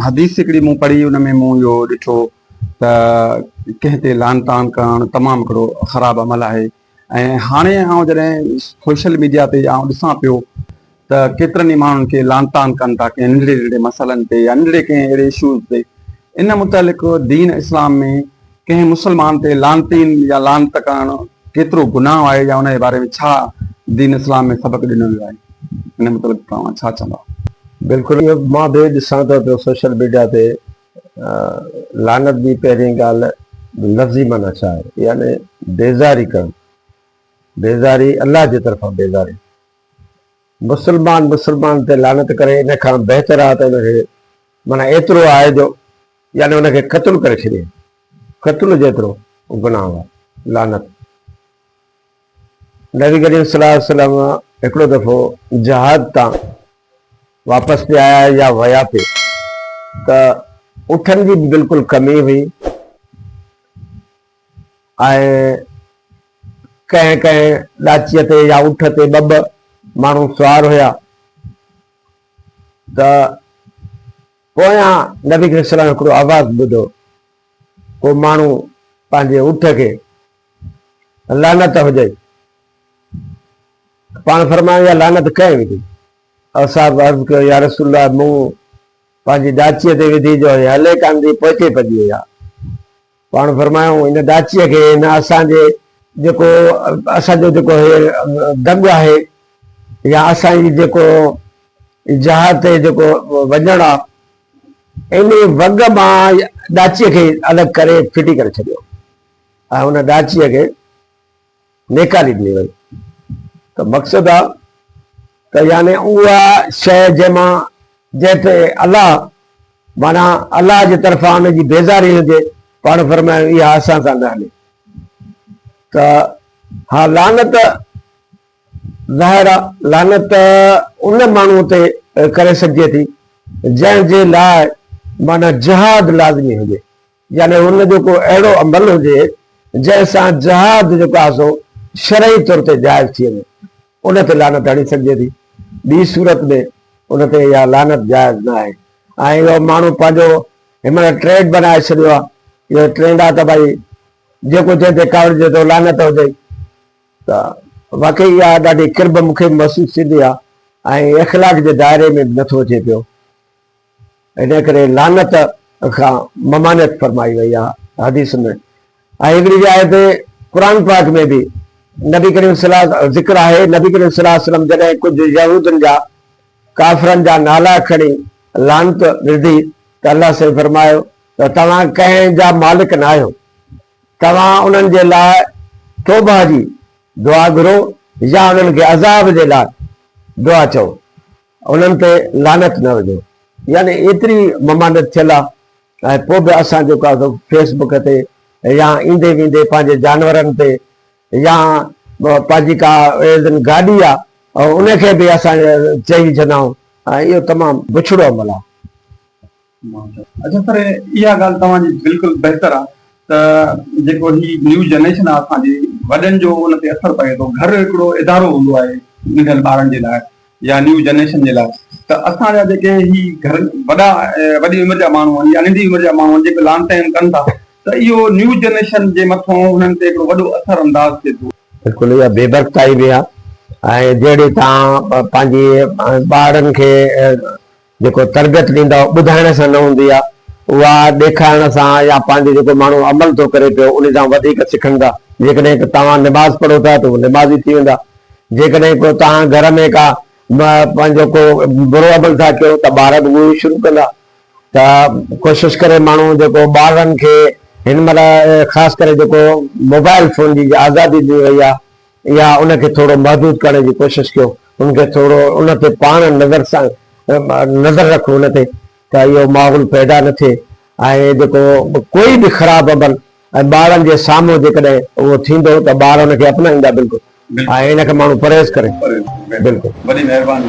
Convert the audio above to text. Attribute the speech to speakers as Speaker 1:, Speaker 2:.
Speaker 1: حديث هڪڙي مون پڙهي ان ۾ مون اهو ڏٺو ته ڪنهن تي لعن طعن ڪرڻ تمام هڪڙو خراب عمل آهي ۽ هاڻي آئون جڏهن سوشل ميڊيا تي آئون ڏسان پيو ته ڪيترن ئي ماڻهن کي لعن طعن ڪن ٿا ڪنهن ننڍڙي ننڍڙي مسئلن تي يا ننڍڙي ڪنهن اهڙي اشوز تي ان متعلق دين اسلام ۾ ڪنهن مسلمان تي لعنتين يا لعنت ڪرڻ ڪيترو گناهه آهي يا ان جي باري ۾ ڇا دين اسلام ۾ سبق ڏنو ويو آهي ان متعلق توهان ڇا چوندا؟ بلڪل اهو
Speaker 2: مان به ڏسان ٿو ته سوشل ميڊيا تي لعنت جي پهرين ڳالهه لفظي معنيٰ ڇا آهي يعني بيزاري ڪرڻ بيزاري الله جي طرفان بيزاري مسلمان مسلمان تي لعنت ڪري ان کان بهتر آهي ته ان کي معنيٰ ايترو آهي جو يعني ان کي قتل ڪري ڇڏي قتل جيترو گناهه هو لعنت نبي ڪريم صلي الله عليه وسلم هڪڙو دفعو جهاد تان واپس پي آيا يا ويا پي ته اٺن جي به بلڪل ڪمي هئي ۽ ڪنهن ڪنهن ڏاچيء تي يا اٺ تي ٻه ٻه ماڻهو سوار هيا ته پويان نبي ڪريم صلي الله عليه وسلم هڪڙو آواز ٻڌو، ڪو ماڻهو پنهنجي اٺ کي لعنت هجئي ته پاڻ فرمايو اها لعنت ڪنهن وڌي؟ اصحاب عرض ڪيو يارسول الله مون پنهنجي ڏاچيء تي وڌي جو هي هلي ڪانه ٿي پوئتي پڄي وئي آهي. پاڻ فرمايائون هن ڏاچيء کي هن اسان جي جيڪو اسان جو جيڪو هي دڳ آهي يا اسان جي جيڪو جهاد تي جيڪو وڃڻ آ انهي وڳ مان ڏاچيء کي الڳ ڪري ڦٽي ڪري ڇڏيو ۽ ان ڏاچيء کي نيڪالي ڏني وئي ته مقصد آ ته يعني اها شيء جنهن مان جنهن تي الله معنيٰ الله جي طرفان ان جي بيزاري هجي پاڻ فرمايو اها اسان سان نه هلي ته ها لعنت ظاهر آ لعنت ان ماڻهو تي ڪري سگهجي ٿي جنهن جي لاء معنيٰ جهاد لازمي هجي يعني ان جو ڪو اهڙو عمل هجي جنهن سان جهاد جيڪو آهي سو شرعي طور تي جائز ٿي وڃي ان تي لعنت هڻي سگهجي ٿي ٻي صورت ۾ ان تي اها لعنت جائز نه آهي ۽ اهو ماڻهو پنهنجو هن مهل ٽريڊ بنائي ڇڏيو آهي اهو ٽرينڊ آهي ته ڀائي جيڪو جنهن تي ڪاوڙجي ٿو لعنت هجي ته واقعي اها ڏاڍي قرب مونکي محسوس ٿيندي آهي ۽ اخلاق جي دائري ۾ به نٿو اچي پيو ۽ تنهن ڪري لعنت کان ممانعت فرمائي وئي آهي حديث ۾ ۽ هڪڙي جاء تي قرآن پاڪ ۾ به نبي ڪريم صلي الله ذڪر آهي نبي ڪريم صلي الله عليه وسلم جڏهن ڪجهه يهودين جا ڪافرن جا نالا کڻي لعنت وڌي ته الله سائين فرمايو ته توهان ڪنهن جا مالڪ ناهيو توهان انهن جي لاء توبه جي دعا گهرو يا انهن کي عذاب جي لاء دعا چئو انهن تي لعنت نه هجو. يعني ايتري ممانعت ٿيل آ ۽ پوء به اسان جيڪو آ سو فيس بڪ تي يا ايندي ويندي پنهنجي جانورن تي يا پنهنجي ڪا ايندن گاڏي آ ان کي به اسان چئي وجهندا آهيون ۽ اهو تمام بڇڙو عمل آ.
Speaker 1: اچا پر اها ڳالهه توهان جي بلڪل بهتر آ ته جيڪو هي نيو جنريشن آ اسان جي وڏن جو ان تي اثر پوي ٿو گهر هڪڙو ادارو هوندو آهي ننڍن ٻارن جي لاء يا نيو جنريشن جي لاء ته اسان جا جيڪي هي گهر وڏا وڏي عمر جا ماڻهو آهن يا ننڍي عمر جا ماڻهو آهن جيڪي لان ٽائيم ڪن ٿا ته اهو نيو جنريشن جي مٿون انهن تي هڪڙو وڏو اثر انداز ٿئي ٿو. بلڪل اها بي
Speaker 2: برڪتائي به آ ۽ جهڙي تان پنهنجي ٻارڙن کي جيڪو تربيت ڏيندا اهو ٻڌائڻ سان نه هوندي آهي اها ڏيکارڻ سان يا پنهنجي جيڪو ماڻهو عمل ٿو ڪري پيو انهي سان وڌيڪ سکن ٿا جيڪڏهن ڪو توهان نماز پڙهو ٿا ته اهي نمازي ٿي ويندا جيڪڏهن ڪو توهان گهر ۾ ڪا پنهنجو ڪو برو عمل ٿا ڪيو ته ٻار به اهو ئي شروع ڪندا ته ڪوشش ڪري ماڻهو جيڪو ٻارن کي هن مهل خاص ڪري جيڪو موبائل فون جي آزادي ڏني وئي آهي يا ان کي ٿورو محدود ڪرڻ جي ڪوشش ڪيو، ان کي ٿورو ان تي پاڻ نظر سان نظر رک ان تي ته اهو ماحول پيدا نه ٿئي ۽ جيڪو ڪوئي به خراب عمل ۽ ٻارن جي سامهون جيڪڏهن اهو ٿيندو ته ٻار ان کي اپنائيندا بلڪل ۽ ان کي ماڻهو پرهيز ڪري بلڪل وڏي مهرباني